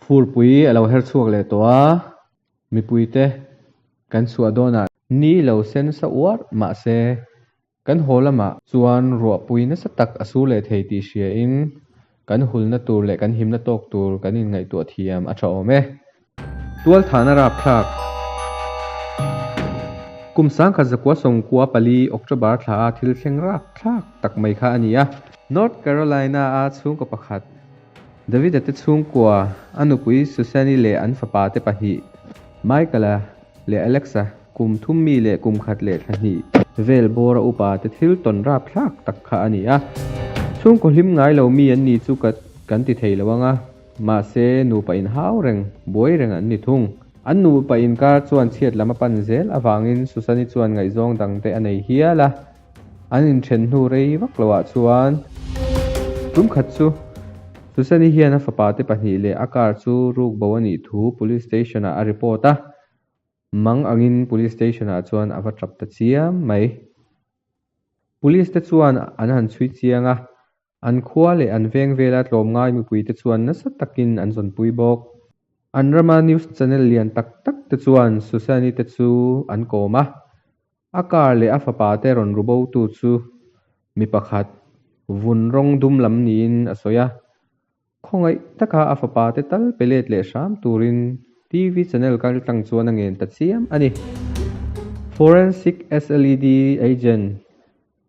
Furpui a lo her chhuak leh tawh a, mipui te kan chhuah dawn ah ni lo sen sa uar mahse kan haw lam ah chuan ruahpui nasa tak a su leh thei tih hria in kan hulna tur leh kan himna tawk tur kan in ngaihtuah thiam a tha awm e. Tualthana rapthlak Kum sangkhat zakua sawngkua pali October thla a thil thleng rapthlak tak mai kha a ni a. North Carolina a chhungkaw pakhat Davida te chhungkua a nupui Susani leh an fapa te pahnih Michael a leh Alex a kum thum mi leh kum khat leh thla hnih vel bawr a upa te thil tawn rapthlak tak kha a ni a. Chhungkaw hlim ngai lo mi an ni chu ka kan ti thei lo ang a. Mahse, nupa in hau reng, buai reng an ni thung. An nupa inkar chuan chhiat lam a pan zel avangin Susani chuan ngaihzawng dangte a nei hial a. An inthen hnu rei vak lo ah chuan tum khat chu Susani hian a fapa te pahnih leh a car chu ruk bo a nih thu Police Station ah a report a. Mang angin Police Station ah chuan a va tap ta chiam mai. Police te chuan an han chhui chiang a, An khua leh an veng vela tlawm ngai mipui te chuan nasa takin an zawnpui bawk. An rama news channel lian tak tak te chuan Susani te chu an kawm a, a kar leh a fapa te rawn ru bo tu chu mi pakhat vun rawng dum lam niin a sawi a, Khawngaih taka a fapa te tal pelet leh hram turin TV channel kal tlang chuan a ngen ta chiam a ni. Forensic SLED agent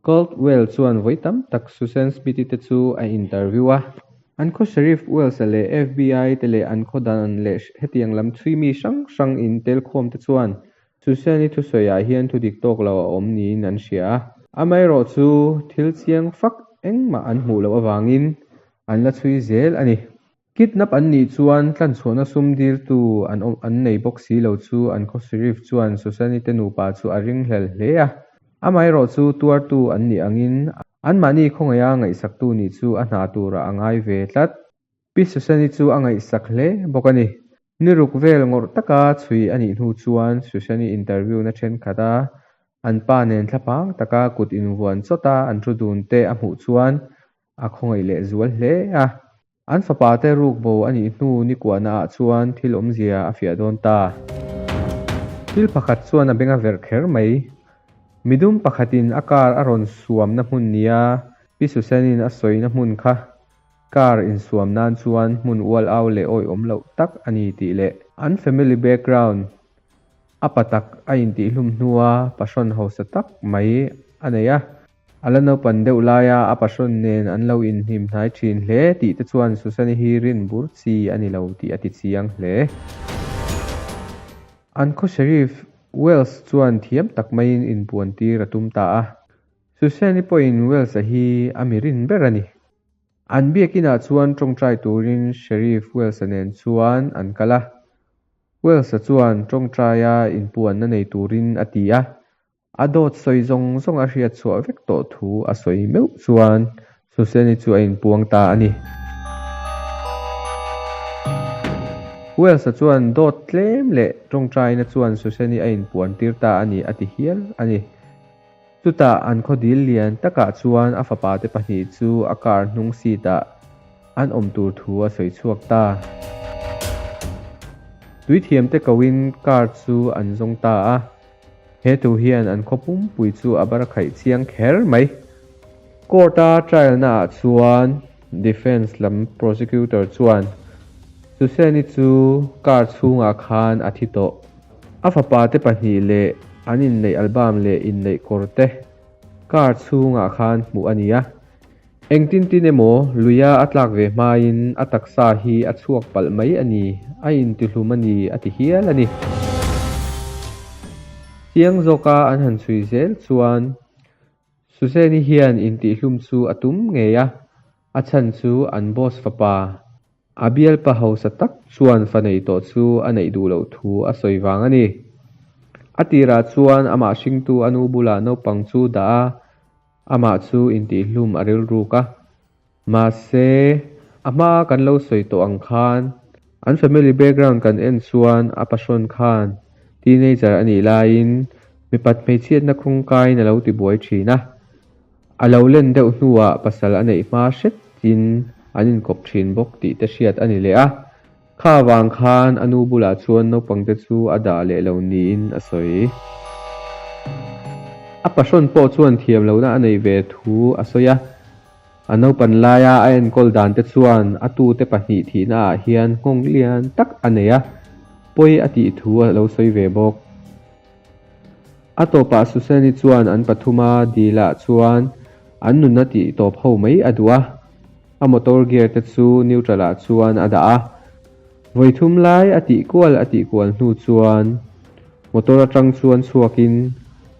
Caldwell chuan vawi tam tak Susan Smithy te chu a interview a. An khaw Sheriff Wells-a leh FBI te leh an khaw dan leh hetiang lam chhui mi hrang hrang intelkhawm te chuan Susan-i thusawiah hian thudik tawk lo a awm niin an hria a. Amaherawhchu, thil chiang fak engmah an hmuh loh avangin an la chhui zel a ni. Kidnap an nih chuan tlanchhuahna sum dirtu an awm an nei bawk si lo chu an khawsirif chuan Susani te nupa chu a ring hlel hle a, amaherawh chu tuartu an nih angin anmahni khawngaia ngaihsaktu nih chu a hna turah a ngai ve tlat. Pi Susani chu a ngaihsak hle bawk a ni. Ni ruk vel ngawrh taka chhui a nih hnu chuan Susani interview na thenkhat a, an pa nen thlapang taka kut invuan chawta an ru dun te a hmuh chuan A khawngaih leh zual hle a. An fapa te ruk bo a nih hnu nikuahna ah chuan thil awmzia a fiah dawn ta. Thil pakhat chuan a beng a verh kher mai. Mi dum pakhatin a car a rawn suamna hmun nia Pi Susanin a sawina hmun kha car insuam nan chuan hmun ual au leh awih awm loh tak a ni tih leh, an family background a pa tak a intihhlum hnua pahrawn hausa tak mai a nei a. A la naupan deuh laia a pasawn nen an lo inhnim hnai thin hle tih te chuan Susani hi rin bur chi a ni lo tih a ti chiang hle. Uncle Sheriff Wells chuan thiam tak maiin inpuan tir a tum ta a, Susani pawhin Wells-a hi a mi rin ber a ni. An biakinah chuan tawngtai turin Sheriff Wells-a nen chuan an kal a. Wells-a chuan tawngtaia inpuanna nei turin a ti a, A dawt sawi zawng zawng a hriat chhuah vek tawh thu a sawi meuh chuan Suseni chu a inpuang ta a ni. Welsa chuan dawt tlem leh tawngtaina chuan Suseni a inpuan tir ta a ni a ti hial a ni. Chutah an khawdil lian takah chuan a fapa te pahnih chu a car hnung seat ah an awm tur thu a sawi chhuak ta. Tui thiam te ko in car chu an zawng ta a. He tu hian an khaw pumpui chu a bar khaih chiang kher mai. Court a trial naah chuan defence lam prosecutor chuan Suseni chu car chhungah khan a thi tawh, a fapa te pahnih leh an inneih album leh inneih kawrte car chhungah khan hmuh a nia, Engtin tin emaw luia a tlak ve hmain a taksa hi a chhuak palh mai a ni, a intihlum a ni a ti hial a ni. Chiang zawka an han chhui zel chuan Suzanne-i hian intihhlum chu a tum ngei a, a chhan chu an boss fapa A bialpa hausa tak chuan fa nei tawh chu a neih duh loh thu a sawi vang a ni. A tirah chuan amah hringtu a nu bulah naupang chu dah a, amah chu intihhlum a rilruk a. Mahse, a hma kan lo sawi tawh ang khan, an family background kan en chuan a pasawn khan teenager a nih laiin mipat hmeichhiatna khawngkain a lo tibuai thin a, A lo len deuh hnuah pasal a neih hma hret chin an inkawp thin bawk tih te hriat a ni leh a. Kha vang khan a nu bulah chuan naupang te chu a dah leh lo niin a sawi. A pahrun pawh chuan thiam lohna a neih ve thu a sawi a. A naupan laia a enkawl dan te chuan a tu te pahnih thihna ah hian nghawng lian tak a nei a. Pawi a tih thu a lo sawi ve bawk. A tawpah Susani chuan an pathuma dilah chuan an nunna tih tawp ho mai a duh a, a motor gear te chu neutral ah chuan a dah a. Vawi thum lai a tih kual a tih kual hnu chuan motor atang chuan chhuakin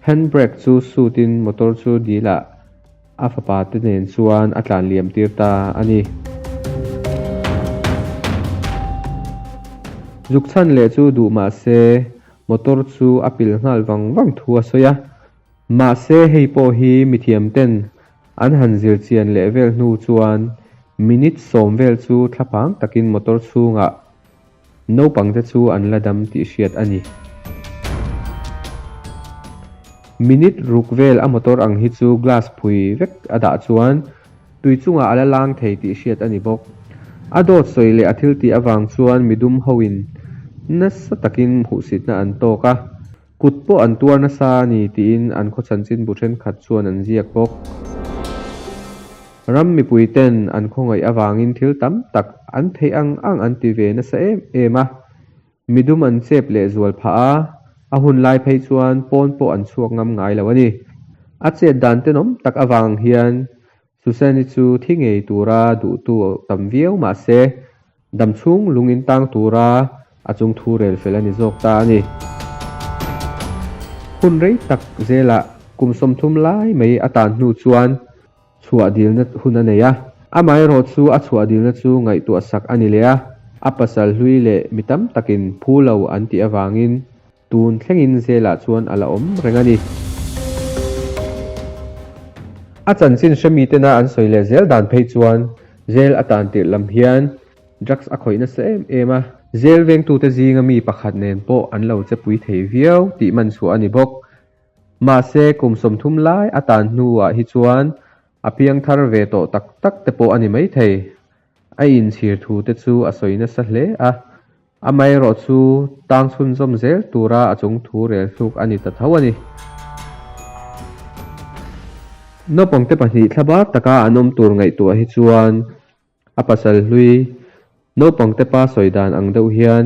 hand brake chu sut in motor chu dilah a fapa te nen chuan a tlan liam tir ta a ni. Zuk chhan leh chu duh mah se Motor chu a pil nghal vang vang thu a sawi a. Mahse hei pawh hi mithiam ten an han zir chian leh vel hnu chuan minute sawm vel chu thla pang takin motor chhungah naupang te chu an la dam tih hriat a ni. Minute ruk vel a motor ang hi chu glass phui vek a dah chuan. tui chungah a la lang thei tih hriat a ni bawk. A dawt sawi leh a thiltih avang chuan mi dum hoin nasa takin hmuhsitna an tawk a, kut pawh an tuar nasa a ni tiin an khawchanchin bu thenkhat chuan an ziak bawk. Ram mipuiten an khawngaih avangin thil tam tak an theih ang ang an ti ve nasa em em a, Mi dum an chep leh zual phah a, a hun lai phei chuan pawn pawh an chhuak ngam ngai lo a ni. A chet dan tenawm tak avang hian Susani chu thi ngei tura duhtu a tam viau mah se, dam chhung lung in tang tura a chung thu rel fel a ni zawk ta a ni. Hun rei tak zelah kum sawmthum lai mai atan hnu chuan chhuah dilna hun a nei a. Amaherawh chu a chhuah dilna chu ngaihtuah sak a ni leh a, a pasal hlui leh mi tam takin phu lo an tih avangin tun thlengin zelah chuan a la awm reng a ni. A chanchin hre mitena an sawi leh zel dan phei chuan zel a tan tirh lam hian drugs a khawih nasa em em a, zel vengtute zinga mi pakhat nen pawh an lo chepui thei viau tih manchhuah a ni bawk. Mahse, kum sawmthum lai atan hnuah hi chuan a piang thar ve tawh tak tak te pawh a ni maithei. A inchhir thu te chu a sawi nasa hle a. Amaherawh chu tang chhunzawm zel tura a chung thu rel hluk a ni ta tho a ni. Naupangte pahnih thla bar taka an awm tur ngaihtuah hi chuan a pasal hlui naupangte pa sawi dan ang deuh hian